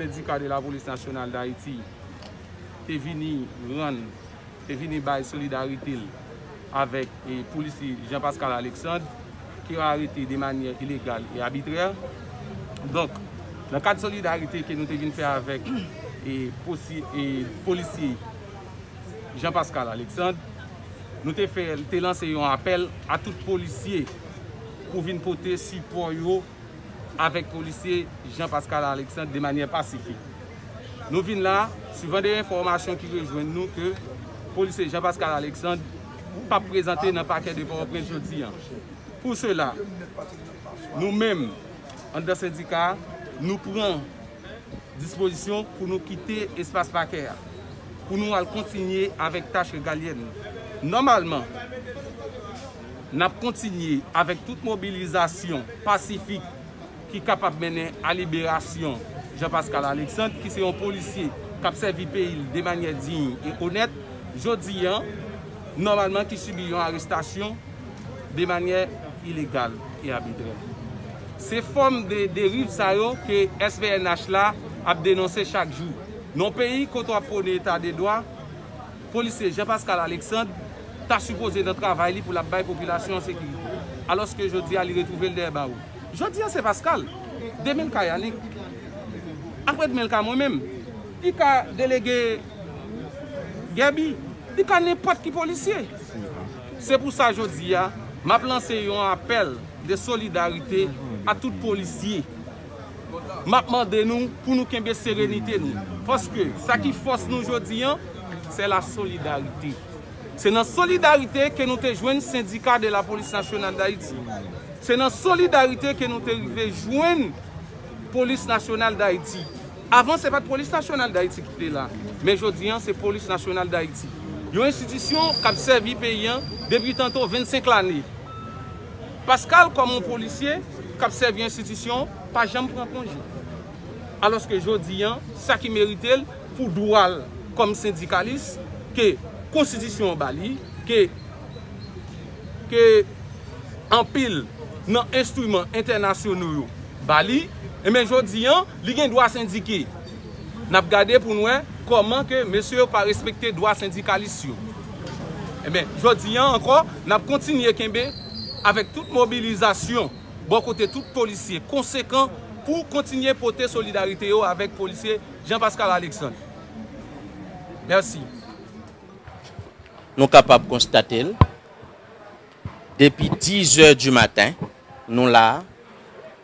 Sendika de la polis nasyonal dayiti te vini rann te vini bay solidarite l avèk polisye Jean Pascal Alexandre ke yo arete de manyè ilegal e abitrè. Donk, nan kad solidarite ke nou te vin fè avèk polisye Jean Pascal Alexandre, nou te fè, te lanse yon apèl a tout polisye pou vin pote sipò yo, avèk polisye Jean Pascal Alexandre de manyè pasifik. Nou vin la suvan de enfòmasyon ki rejwenn nou ke polisye Jean Pascal Alexandre pap prezante nan pakè de Pòtoprens jodi an. Pou sela, nou menm anndan sendika a, nou pran dispozisyon pou nou kite espas pakè a, pou nou al kontinye avèk tach regalyèn nou. Nòmalman. N ap kontinye avèk tout mobilizasyon pasifik ki kapab mennen a liberasyon Jean Pascal Alexandre ki se yon polisye k ap sèvi peyi l de manyè diy e onèt jodi a, nòmalman ki sibi yon arestasyon de manyè ilegal e abitrè. Se fòm de deriv sa yo ke SPNH la ap denonse chak jou. Nan yon peyi kote w ap pwone eta de dwa, Polisye Jean Pascal Alexandre ta sipoze nan travay li pou l ap bay popilasyon an sekirite. Alòske jodi a li retwouve l dèyè bawo. Jodi a se Pascal, demen l ka Yanick, apre demen l ka mwen menm, li ka delege Guerby, li ka nenpòt ki polisye. Se pou sa jodi a m ap lanse yon apèl de solidarite a tout polisye. Map mande nou pou nou kenbe serenite nou, paske sa ki fòs nou jodi an, se la solidarite. Se nan solidarite ke nou te jwenn sendika de la polis nasyonal Dayiti. Se nan solidarite ke nou te rive jwenn polis nasyonal Dayiti. Avan se pat polis nasyonal Dayiti ki te la, men jodi an se polis nasyonal Dayiti. Yon enstitisyon kap sèvi peyi an depi tanto 25 lane. Pascal kòm yon polisye k ap sèvi enstitisyon pa janm pran konje. Alòske jodi an sa ki merite l pou dwa l kòm sendikalis ke konstitisyon an ba li, ke ke anpil nan enstriman entènasyono yo ba li, enben jodi an li gen dwa sendike. N ap gade pou n wè kòman ke mesye yo pa respekte dwa sendikalis yo. Enben, jodi an ankò, n ap kontinye kenbe avèk tout mobilizasyon bò kote tout polisye konsekan pou kontinye pote solidarite yo avèk polisye Jean Pascal Alexandre. Mèsi. Nou kapab konstate l, depi 10 è di maten, nou la a.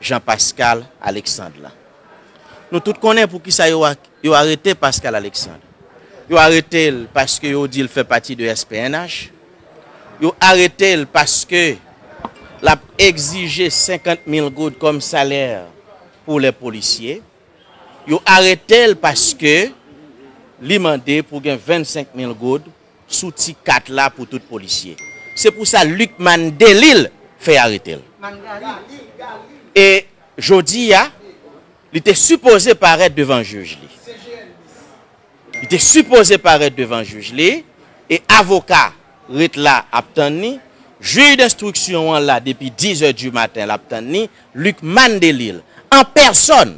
Jean Pascal Alexandre la. Nou tout konnen poukisa yo arete Pascal Alexandre. Yo arete l paske yo di l fè pati de SPNH. Yo arete l paske l ap egzije 50 mil goud kòm salè pou lè polisye. Yo arete l paske li mande pou gen 25 mil goud sou ti kat la pou tout polisye se pou sa Lucmane Delil fè arete l e jodi a li te sipoze parèt devan jij li li te sipoze parèt devan jij li e avoka ret la ap tann ni jij denstriksyon an la depi 10 è di maten l ap tann ni Lucmane Delil an pèsòn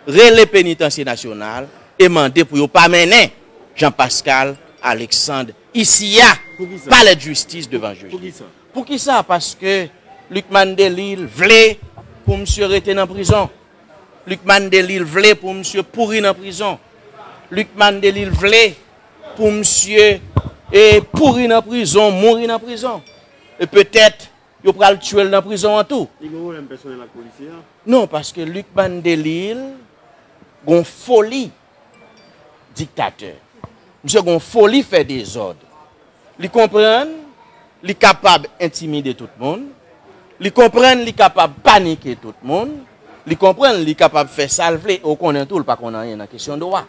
rele Penitansye Nasyonal e mande pou yo pa mennen Jean Pascal Alexandre isi a, palè d'jistis devan jij la. Poukisa? Paske Lucmane Delille vle pou misye rete nan prizon. Lucmane Delille vle pou misye pouri nan prizon. Lucmane Delille vle pou misye pouri nan prizon, mouri nan prizon. E petèt. Yo pral tuel nan prizon an tou. Li gen problème personnel ak policier an? Non paske Lucmane Delille gon foli diktatè. Misye gon foli fè dezòd. Li konprann li kapab entimide tout moun. Li konprann li kapab panike tout moun. Li konprann li kapab fè sa l vle e ou konnen tou l pa konn anyen nan kesyon dwa.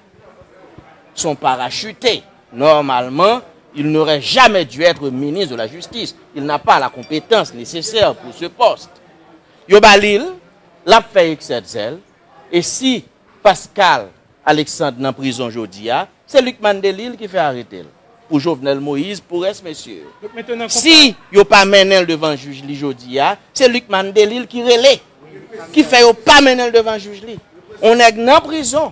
S on parachute. Normalman, il n'aurait jamais dû être ministre de la justice, il n'a pas la compétence nécessaire pour ce poste. Yo ba li l, l ap fè eksè zèl, e si Pascal Alexandre nan prizon jodi a, se Lucmane Delille ki fè arete l, pou Jovenel Moïse, pou rès mesye yo. Si yo pa mennen l devan jij li jodi a, se Lucmane Delille ki rele, ki fè yo pa mennen l devan jij li. On nèg nan prizon,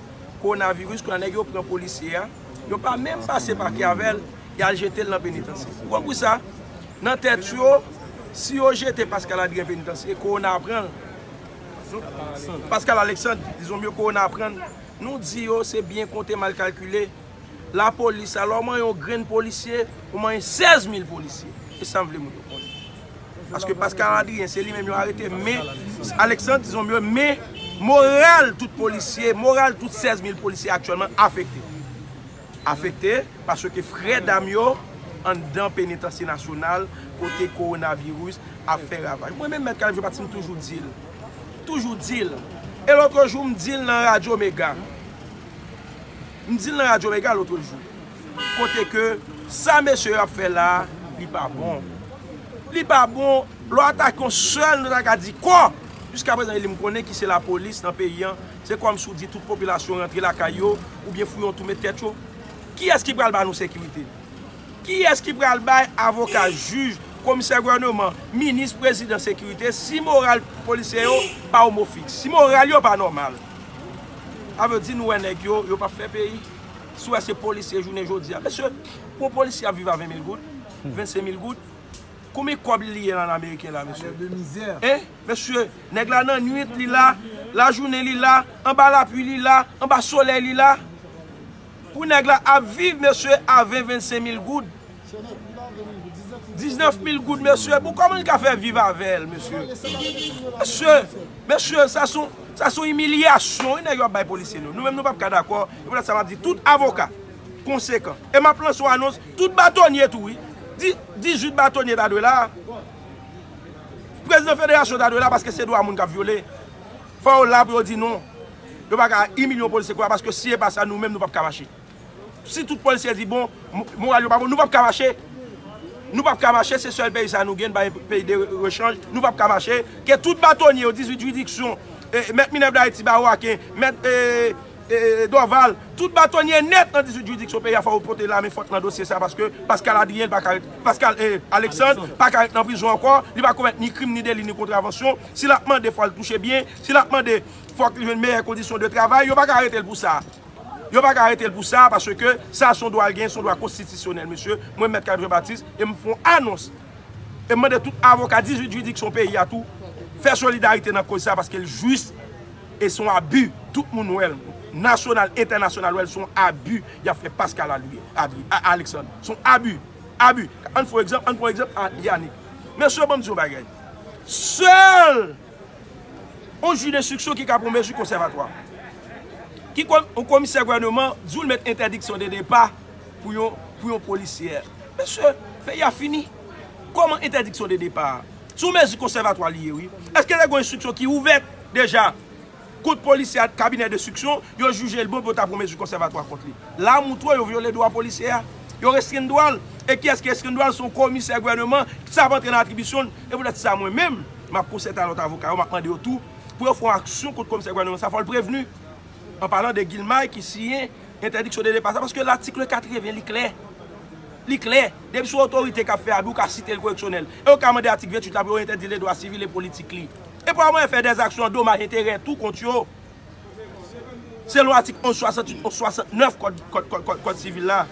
Kowonaviris kounye a nèg yo pran polisye a yo pa menm pase pake avèl y al jete l nan penitansye ou konpri sa nan tèt yo si yo jete Pascal Adrien penitansye kowona ap pran l Pascal Alexandre dizon mye kowona ap pran l nou di yo se byen konte mal kalkile La police alors manyen yon grenn polisye ou manyen 16 mil polisye e sam vle moun yo konnen paske Pascal Adrien se li menm yo arete men Alexandre ti zombi yo men moral tout polisye moral tout 16 mil polisye aktyèlman afekte afekte paske frè dam yo anndan penitansye nasyonal kote korona virus ap fè ravaj mwen menm mèt kalif jè pati m toujou dil toujou dil e lotrejou m dil nan radyo mega. M di l nan radyo mega lotre jou kote ke sa mesye yo ap fè la a li pa bon. Li pa bon lè w atake yon sèl nou ta ka di kò jiska prezan e m konnen ki se lapolis nan peyi an se kòm si w di tout popilasyon rantre lakay yo oubyen fouye yon twou met tèt yo. Kiyès ki pral ba nou sekirite? Kiyès ki pral bay avoka, jij, komisè gouvèneman, minis, prezidan sekirite si moral polisye yo pa omofiks, si moral yo pa nòmal? Sa vle di nou wè nèg yo, yo pap fè peyi. Si w wè se polisye jounen jodi a. Mesye, pou yon polisye ap viv a 20 mil goud, 25 mil goud, konbyen kòb li liye la an ameriken la mesye? Hein! Mesye, nèg la nan nwit li la, lajounen li la, anba lapui li la, anba solèy li la. Pou nèg la ap viv mesye a 20 25 mil goud 19 mil goud mesye pou kòman li ka fè viv avèl mesye mesye mesye sa son sa son imilyasyon wi nèg yo ap bay polisye nou nou menm nou pap ka dakò e pou lèt sa map di tout avoka konsekan e map lan son anons tout batonye tou wi 18 batonye ta dwe la prezidan federasyon ta dwe la paske se dwa moun kap vyole fò yo la pou yo di non. Yo pa ka imilye yon polisye konsa paske si e pa sa nou menm nou pap ka mache. Si tout polisye di bon, moral yo pa bon, nou pap ka mache. Nou pap ka mache, se sèl peyi sa nou gen, n pa gen peyi de rechanj, nou pap ka mache. Ke tout batonye yo, 18 jiridiksyon, mèt Minèv Dayiti, Bawo Aken, mèt Dòval, tout batonye nèt nan 18 jiridiksyon peyi a fò yo pote la men fòt nan dosye sa paske Paskal Adriyen pa ka ret, Paskal Aleksand pa ka ret nan prizon ankò, li pa komèt ni krim ni deli ni kontravansyon. Si l ap mande fò l touche byen, si l ap mande. fòk li jwenn meyè kondisyon de travay, yo pa ka arete l pou sa. Yo pa ka arete l pou sa, paske sa son dwa l genyen, son dwa konstitisyonèl, mesye, mwen mèt Caleb Jean Baptiste, e m fon anons, e m mande tout avoka 18 jiridiksyon peyi a tou, fè solidarite nan koz sa, paske l jis, e son abi, tout moun wè l, nasyonal, entènasyonal wè l, son abi, y ap fè Pascal Aly, Alexandre, son abi, abi, an fon egzanp, an pran egzanp, Yanick, mesye ban m di yon bagay, sèl, Yon jij enstriksyon ki ka pran mezi konsèvatwa. Ki yon komisè gouvèneman di w l met entèdiksyon de depa pou yon polisyè. Mesye, peyi a fini. Kòman entèdiksyon de depa a? Se yon mezi konsèvatwa li ye wi. Eske te gen yon enstriksyon ki ouvèt deja? Kont polisye a kabinè destriksyon, yo jije l bon pou yo ta pran mezi konsèvatwa kont li. La a moutwo yo vyole dwa polisye a. Yo restrenn dwa l. E kiyès ki restrenn dwa l? Se yon komisè gouvèneman ki sa ap antre nan atribisyon l. E poutèt sa mwen menm, m ap konsète a lòt avoka yo, m ap mande yo tou pou yo fè yon aksyon kont komisè gouvèneman sa a. Fò l prevni, an palan de Guilmay ki siyen entèdiksyon de depa sa a, paske latikle 80 li klè. Li klè. Depi se yon otorite k ap fè abi, ou ka site l koreksyonèl. E ou ka mande atik 28 la pou yo entèdi l de dwa sivil e politik li. E pou a mwayen fè dè aksyon an domaj enterè tou kont yo, selon atik 11, 68 ou 69 kòd sivil la.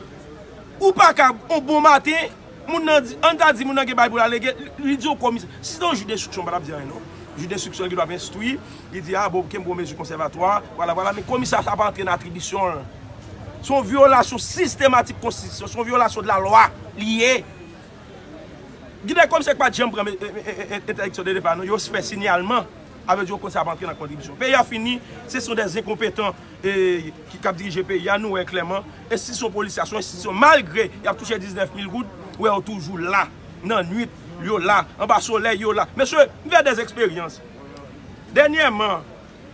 Ou pa kab, yon bon maten, moun nan di, an ta di moun nan gen bagay pou l alege, li di yon komisè, si se te yon jij denstriksyon m pa t ap di anyen non. Jij denstriksyon ki dwe ap enstwi, li di a, bon, kenbe yon mezi konsèvatwa, vwala vwala, men komisè a sa pa antre nan atribisyon l. Se yon vyolasyon sistematik konstitisyon, se yon vyolasyon de la lwa li ye. Gen de komisè ki pat janm pran entèdiksyon de depa nou, yo fè sinyalman, a vle di yo konn sa ap antre nan kontribisyon. Peyi a fini, se son de zenkonpetan ki ap dirije peyi a, nou wè klèman, enstitisyon polis la, son enstitisyon malgre y ap touche 19 mil goud, ou wè yo toujou la, nan nwit, yo la, anba solèy yo la. Mesye, m fè de eksperyans, dènyèman,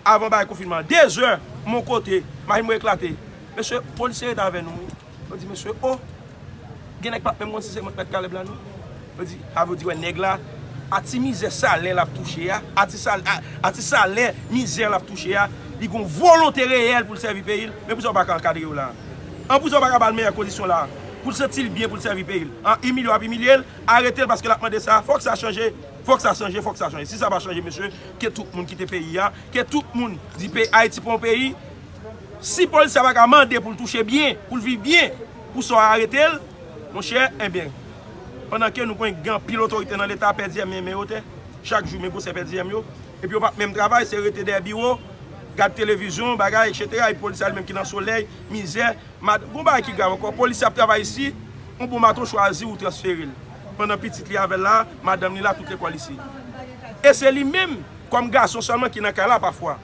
Avan bagay konfinman an 2 zè mon kote machin mwen eklate mesye polisye ret avè nou wi yo di mesye oh gen nèg pap menm konn si se mwen ki mèt kalèb la non yo di avè yo di wè nèg la a ti mizè salen lap touche a a ti sal a ti salen mizè lap touche a li gon volonte reyèl poul sèvi peyil men poukisa yo paka ankadre yo la an poukisa yo paka bal meyè kondisyon la poul santil byen poul sèvi peyil an imilye yo ap imilyel aretel paske lap mande sa fòk sa chanje. Fok sa chanje fok sa chanje si sa pa chanje mesye ke tout moun kite peyi ya ke tout moun di pe ayiti pa yon peyi si polis sa pa ka mande pou l touche byen pou l viv byen pou sa yo arete l monchè enben pandan ke nou konn gen anpil otorite nan leta pè diyèm men men yo te chak jou men gwo se pè diyèm yo epi yo pap menm travay se rete dèyè biwo gad televizyon bagay etc epi polis sa li menm ki nan solèy mizè mad gon bagay ki grav ankò polis sa ap travay isi yon bon maton chwazi ou transfere l. pandan pitit li avè l la, madanm li la, tout lekòl isi. E se li menm, kòm gason sèlman ki nan kay la pafwa.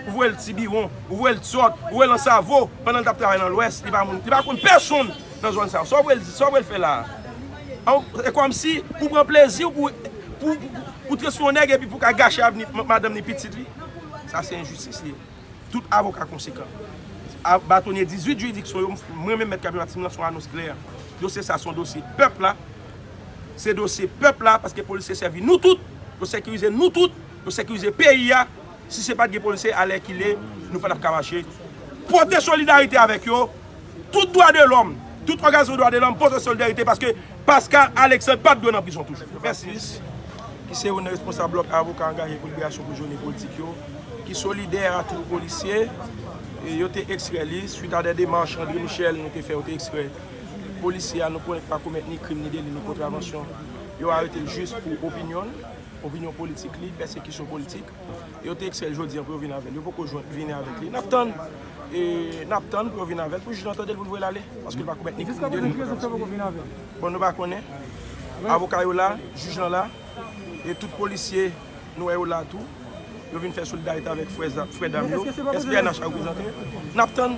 Ou voye l Tibiwon, ou voye l Tyòt, ou voye l Ansavo, pandan l t ap travay nan Lwès, li pa moun, li pa konn pèsonn nan zòn sa yo. Sa w vle l di, sa w vle l fè la a? An, se kòmsi pou w pran plezi w pou w, pou w, pou w trete sou yon nèg epi pou w ka gache avni madanm ni pitit li? Sa se enjistis li ye. Tout avoka konsekan. Batonye 18 jiridiksyon yo, mwen menm Mèt Kabi Matisme lanse yon anons klè. Dosye sa son dosye pèp la. Se dosye pèp la paske polisye sèvi nou tout. Yo sekirize nou tout. Yo sekirize peyi a. Si se pat gen polisye alèkile nou pa tap ka mache. Pote solidarite avèk yo. Tout dwa de lòm, tout òganizasyon dwa de lòm pote solidarite paske Pascal Alexandre pa t dwe nan prizon toujou. Mèsi. ki se youn nan responsab blòk avoka angaje pou liberasyon prizonye politik yo, ki solidè a tout polisye, yo te ekstrè li, swit a dè demach André Michel nou te fè, yo te ekstrè polisye a, nou konnen li pa komèt ni krim ni deli ni kontravansyon, yo arete l jis pou opinyon l, opinyon politik li, pèsekisyon politik. Yo te eksel jodi an pou yo vin avèl. Yo poko jwenn vini avèk li. Nap tann. E nap tann pou yo vin avèl. Pou jij nan tandel pou l voye l ale. Paske l pa komèt ni krim ni deli. Jiska prezan sa poko vin avèl. Bon nou pa konnen. Avoka yo la. Jij lan la. E tout polisye nou wè yo la tou. Yo vin fè solidarite avèk frè dam yo. Eske se pa prezan. SPNH la reprezante. Nap tann.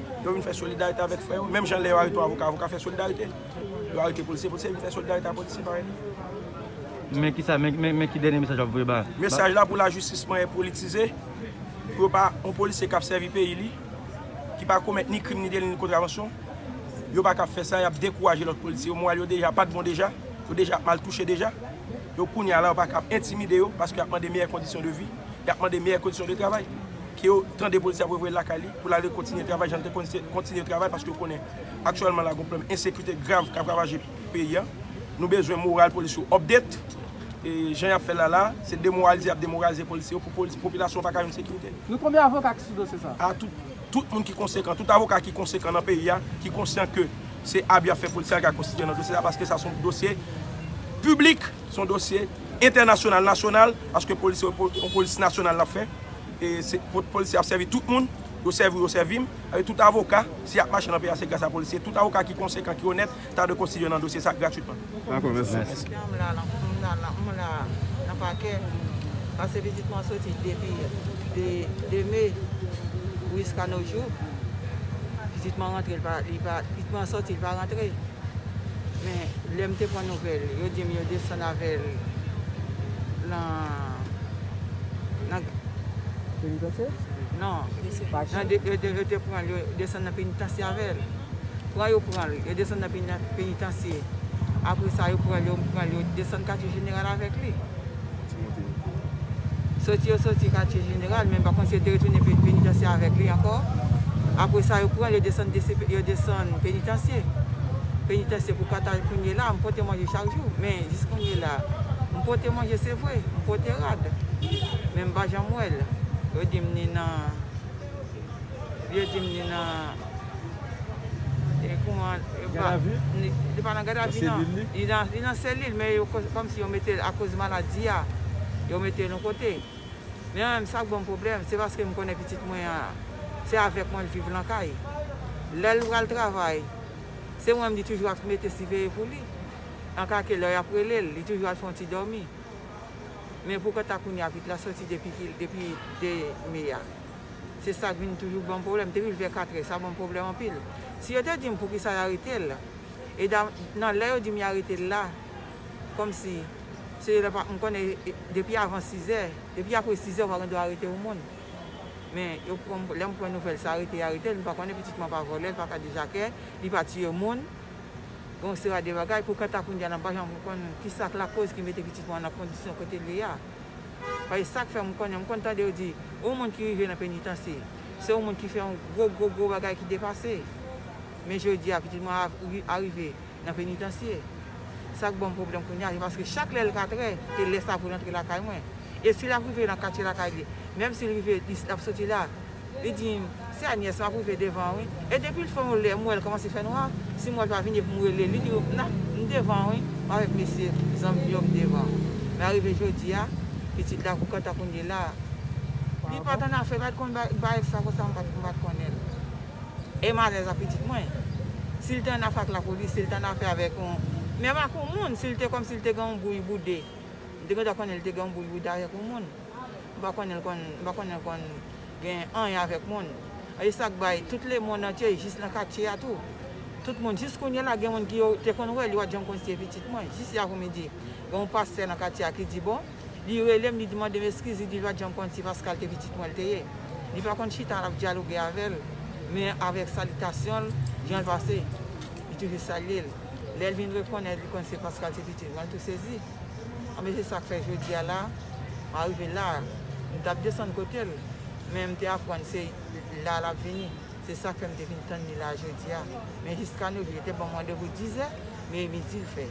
Yo vin fè solidarite avèk frè yo. Menm jan lè yo arete yon avoka, avoka fè solidarite. Yo arete polisye, polisye vin fè solidarite ak polisye parèy li. Men ki sa, men ki dènye mesaj wap voye ba. Mesaj la pou lajistis manyen politize, pou yo pa, yon polisye kap sèvi peyi li, ki pa komèt ni krim ni deli ni kontravansyon, yo pa kap fè sa, yap dekouraje lòt polisye yo, moral yo deja pat bon deja, yo deja ap mal touche deja. Yo kounya la yo pa kap entimide yo, paske yap mande meyè kondisyon de vi, yap mande meyè kondisyon de travay. Ke yo tande polisye ap revoye l lakay li pou l ale kontinye travay jan l te kontinye travay paske yo konnen aktyèlman la gen yon pwoblèm ensekirite grav k ap ravaje peyi a. Nou bezwen moral polis yo update. Jan y ap fè l la la a, se demoralize y ap demoralize polisye yo pou popilasyon an pa ka jwenn sekirite. Gen konbyen avoka ki sou dosye sa a? Tout moun ki konsekan, tout avoka ki konsekan nan peyi a ki konsyan ke se abi y ap fè polisye a ka konstitye nan dosye sa a paske sa se yon dosye piblik. Se yon dosye entènasyonal, nasyonal, paske polis yo, se yon polis nasyonal n ap fè. E se polisye ap sèvi tout moun, yo sèvi ou yo sèvi m. Avèk tout avoka, si y ap mache nan peyi a se gras a polisye. Tout avoka ki konsekan, ki onèt, ta dwe konstitye nan dosye sa gratwitman. Dakò, mèsi. Men, lè m te pran nouvèl, yo di m yo desann avè l nan. Penitansye? Non. Pachan? Yo te pran l, yo desann nan penitansye avè l. Pran yo pran l, yo desann nan penitansye. Apre sa, yo pran l, yo desann katye jeneral avèk li. Timote yo. Soti yo soti katye jeneral men pa konte yo te retounen penitansye avèk li ankò. Apre sa yo pran l yo desann DC yo desann penitansye. Penitansye pou katal kounye la a m pote manje chak jou men jis kounye la a m pote manje se vre m pote rad men m pa janm wè l yo di m ni nan yo di m ni nan. E kouman yo pa. Gadavi? Li pa nan gadavi nan. Nan selil li? Li nan, li nan selil men yo kòmsi yo mete l akoz maladi a, yo mete l yon kote. Men menm sa k ban m pwoblèm, se paske m konnen pitit mwen an, se avèk mwen l viv lan kay. Lè l pral travay, se mwen m di toujou ap mete siveye pou li. An ka ke lè y ap rele l, li toujou al fè yon ti dòmi. Men pou kanta kounye a pitit la soti depi ki, depi 2 me a. Se sak vin toujou banm pwoblèm. M te rive vè 4 è, sa banm pwoblèm anpil. Si yo te di m poukisa y arete l, e nan lè yo di m y arete l la, kòmsi se yo lè pa, m konnen depi avan 6 è, depi apre 6 è ou pa gen dwa arete yon moun. Men yo pran, lè m pran nouvèl sa arete y arete l, m pa konnen pitit mwen pa vòlè, l pa kadejakè, li pa tiye moun. Gen yon sera de bagay pou kanta kounye a la m pa janm konprann ki sak lakoz ki mete pitit mwen an nan kondisyon kote l ye a. Paske sa k fè m konnen, m konn tande yo di, yon moun ki rive nan penitansye, se yon moun ki fè yon gwo gwo gwo bagay ki depase. Men jodi a pitit mwen a rive nan penitansye. Sa k ban m pwoblèm kounye a, se paske chak lè l katrè, se lè sa pou l antre lakay mwen. E si l ap rive nan katye lakay li, menm si l rive, l ap soti la, Li di m, Se Agnes m ap rive devan an wi. E depi l fè yon lè m wè l kòmanse fè nwa, si m wè l pa vini epi m rele l, li di m, Na, m devan an wi, m avèk mesye, zanmi m yo, m devan an. Men arive jodi a, pitit la kou kanta kou n ye la a. Li pa t annafè, li pa t konn bay èks la konsa, m pa t konnen l. E m alèz ak pitit mwen. Si l te annafè ak lapolis, si l te annafè avèk yon, menm ak yon moun, si l te kòmsi l te gen yon bouyi boude, m te gendwa konnen l te gen yon bouyi boude avèk yon moun. M pa konnen l konn m pa konnen l konn gen anyen avèk moun. E sa k bay tout lemonn antye e jis nan katye a tou. Tout moun jis kounye la gen moun ki yo te konn wè li wa John Consty e pitit mwen. Jis yè avou midi gen yon pastè nan katye a ki di bon li rele m li di mande m eskiz li di lwa John Consty Pascal te pitit mwen l te ye. Li pa konn chita la ap dyaloge avè l men avèk salitasyon l jan l pase li toujou salye l. Lè l vin rekonèt li konn se Pascal se pitit mwen l tou sezi. Anben se sak fè jodi a la a rive la a. M tap desann kote l men m te aprann se la lap vini. Se sak fè m te vin tann li la a jodi a. Men jiska nou jou yo te ban m randevou 10 zè men e midi l fè.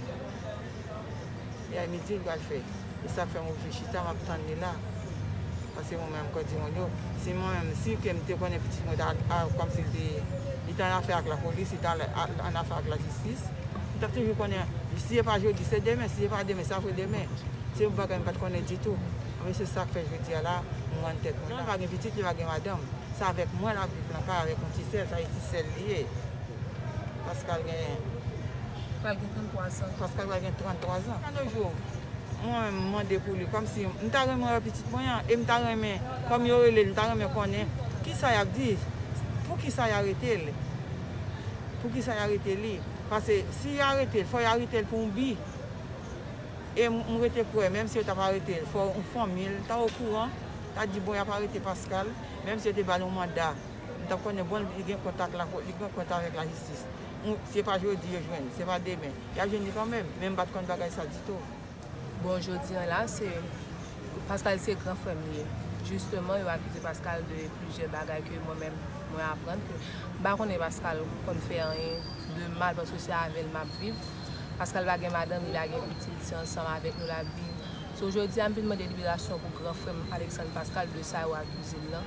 Ya e midi l pral fè. Se sak fè m oblije chita map tann li la. Se mwen menm kò timoun yo. Si mwen menm, si ke m te konnen pitit mwen ta kòm si l te, li te an afè ak lapolis, li ta an afè ak lajistis, m t ap toujou konnen, si se pa jodi, se demen, si se pa demen, se apre demen. Se yon bagay m pa t konnen ditou. Ebyen se sa k fè jodi a la, m rann tèt mwen la. Li pa gen pitit, li pa gen madanm. Se avèk mwen l ap viv lan kay avèk yon ti sè l, sa vle di ti sè l li ye. Pascal pral gen 33 zan. Pascal pral gen 33 zan. Yon de jou mwen menm mande pou li kòm si m ta renmen wè pitit mwen an e m ta renmen kòm yo rele l m ta renmen konnen ki sa y ap di pou ki sa y arete l pou ki sa y arete li pase si y arete l fò y arete l pou yon bi e m rete kwè menm si yo t ap arete l fò fanmi l ta okouran ta di bon y ap arete Pascal menm si yo te ba l yon manda. M ta konnen bon li gen kont ak lapo, li gen kont avèk lajistis. Ou, se pa jodi yo jwenn, se pa demen. Y ap jwenn li kanmenm, men m pa t konn bagay sa ditou. Bon, jodi an la, se Paskal se gran frè m li ye. Jisteman, yo akize Paskal de plizyè bagay ke mwen menm, mwen aprann ke m pa konnen Paskal konn fè anyen de mal paske se avè l m ap viv. Paskal pa gen madanm, li pa gen pitit, se ansanm avèk nou l ap viv. So, jodi a, m vin mande liberasyon pou gran frè m Aleksann Paskal de sa yo akize l lan.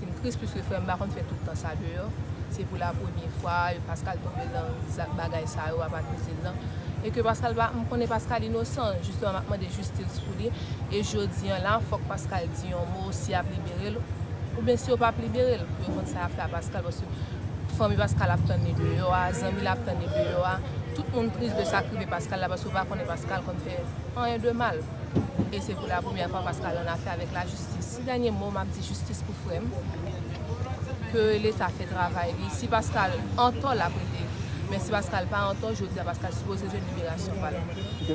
Vin tris pwiske frè m pa konn fè tout tan sa deyò, se pou la premye fwa Pascal tonbe lan zak bagay sa yo wap akize l lan, e ke Pascal pa, m konnen Pascal inosan, jisteman map mande jistis pou li, e jodi an la fòk Pascal di yon mo si yap libere l, ou byen si yo pap libere l, pou yo konn sa yap fè a Pascal paske fanmi Pascal ap tann li deyò a, zanmi l ap tann li deyò a, tout moun tris de sak rive Pascal la paske yo pa konnen Pascal konn fè anyen de mal, e se pou la premyè fwa Pascal an afè avèk la jistis. Ti dènye mo map di jistis pou frèm ke leta fè travay li si Pascal antò lap rete men si Pascal pa antò jodia Pascal sipoze jwenn liberasyon pal.